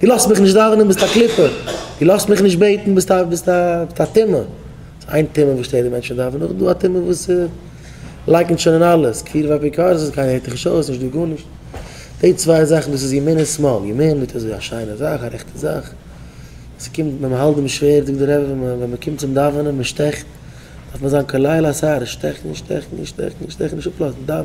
דו לאזט מיך נישט דאווענען ביסט א קליפה, דו לאזט מיך נישט בעטן ביסט א ביסט א טמא, ס'איז איין טמא וואס שטערט די מענטשן דאווענען, נאכדעם איז דא א טמא וואס לייקנט שוין אין אלעס, כפירה ואפיקורסות, קיינער הערט דיך נישט אויס, נישט דא גארנישט, די צוויי זאכן דאס איז ימין און שמאל, ימין מיט אזוי א שיינע זאך, א רעכטע זאך, ס'קומט ווען מ'האלט דעם שווערד זאגט די רבי ווען מען ווען מ'קומט צום דאווענען, מ'שטעכט, דארף מען זיין כליל השערה, שטעכן, שטעכן, שטעכן, שטעכן, נישט אפלאזן, דאווען.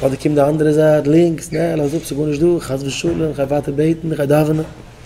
אדער קומט די אנדערע זייט לינקס, נע, לאז אפ, ס'איז גארנישט דא, חס ושלום, כ'גיי ווייטער בעטן, כ'גיי דאווענען.